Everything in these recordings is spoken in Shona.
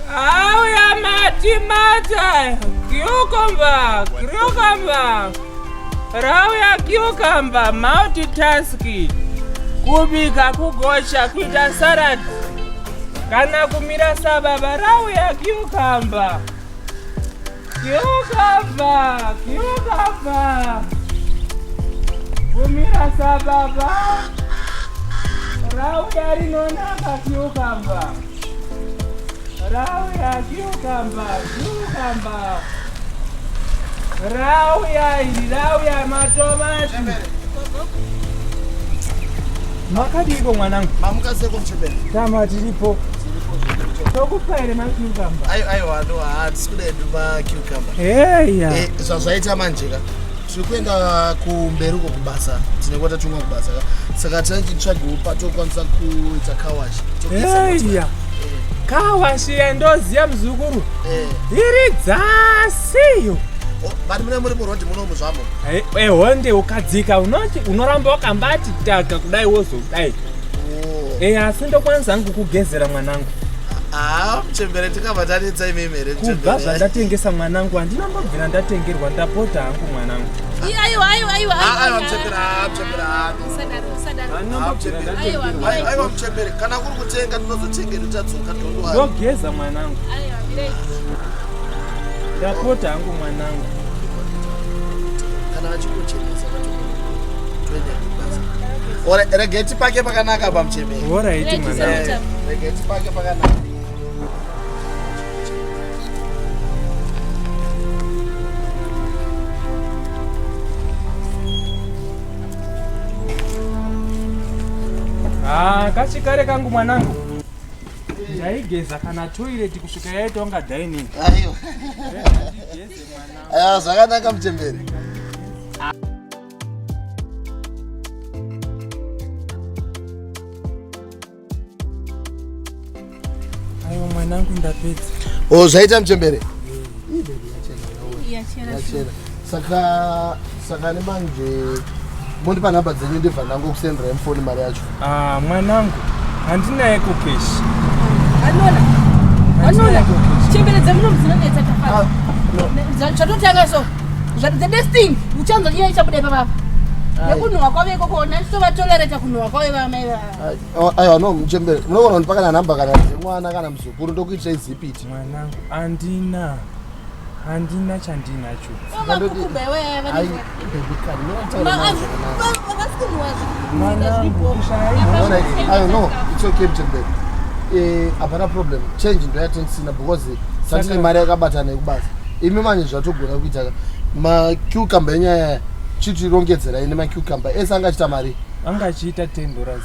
Auya mati mata cucumber cucumber rauya cucumber multitask kubika kugocha kuita salad kana kumira sababa rauya cucumber Kiokava, kiokava. Vumira sababa. Rauya rinonaka kiokava. Rauya kiokava, kiokava. Rauya iri, rauya matomati. Makadiko mwanangu? Mamuka seko mchebere. Tama tiripo. tokupa here macucumber aiwa no hatisi kuda edu macucumber eya eh, zvazvaita manje ka tiri kuenda kumberi uko kubasa tine kuva tatumwa kubasa ka saka tichitsvagiwo patokwanisa kuita kawashi eya kawashi yandoziva muzukuru eh. iri dzasiyo vari mune muri murondi munomu zvamo ehonde eh, ukadzika unoramba wakambati taka kudai wozodai eya asi ndokwanisa hangu kugezera mwanangu haa muchembere tikabva tanetsa imimi here kubva zvandatengesa mwanangu handina mbobvira ndatengerwa ndapota hangu mwanangu aiwa muchembere kana kuri kutenga ndinozotengeri tadzoka ndogeza mwanangu ndapota hangu mwanangu kana vachikuchenesa regeti pake pakanaka pamuchemeri oraiti mwana eh, regeti pake pakanaka Ah, kachikare kangu mwanangu ndaigeza kana toilet kusvika yaitonga dining aiwa eh, zvakanaka muchemberi mwanangu ndapedza o oh, zvaita muchembere saka saka nemanje mondipa nhamba dzenyu ndibva ndangokusendera mfoni mari yacho Ah, mwanangu handinayeko keshi Anola. Anola. Chembere dzemuno mudzinonetsa tafara. Zvatotanga so. Zvat the next thing uchanzwa nyaya ichabuda ipapa. Nekunhuwa kwavo ikoko ona tova tolerate kunhuwa kwavo vamai vavo. aiwa no muchembere munogona kundipa kana nhamba kana dzemwana kana muzukuru ndokuitisai zipiti mwanangu andina handina chandinacho hapana eh, problem change ndoyatenisina because sandine mari yakabatana yekubasa imi manje zvatogona kuita macucumber enyaya chitirongedzerai nemacucumber ese anga achita mari anga achiita ten dollars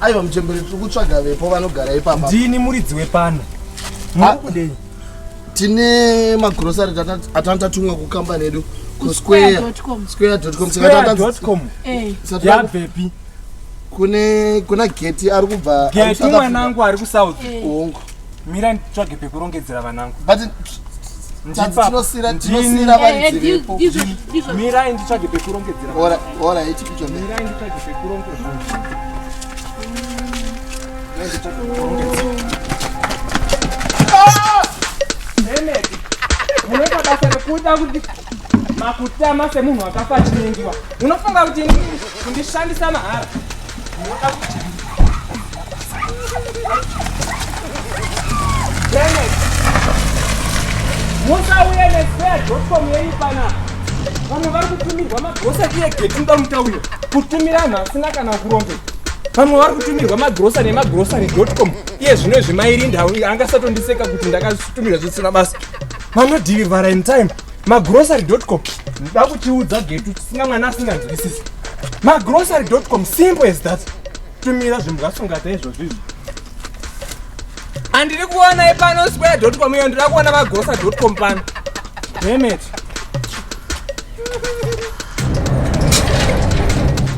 Aiwa mchembere tiri kutsvaga vepo vanogara ipapa. Ndini muridzi wepano. Muri kudei? Tine magrocery atanga tatumwa kukambani yedu kusquare.com. Square.com. Square.com. Eh. Yabvepi? Kune kuna gate ari kubva. Gate mwanangu ari kusouth. Hongu. Eh. mira nditsvage pekurongedzera vanangu but mirai nditsvage pekurongedzera munoita basa rekuda kuti makutama semunhu akafa chinengiwa unofunga kuti kundishandisa mahara musauya nespare dotcom yenyu pana vamwe vari kutumirwa magrosari iye geti uda mutauriro kutumira vanhu asina kana kurombe vamwe vari kutumirwa magrosari emagrosari dotcom iye zvino izvi mairinda angasatondiseka kuti ndakatumirwa zvisina basa vanodhirivara in time magrocery.com nda kutiudza getu tisinga mwana asinganzwisisi magrocery.com simple as that tumira zvinhu zvasungata izvozvo izvi handiri kuona ipano square.com iyo ndiri kuona magrocery.com pano demet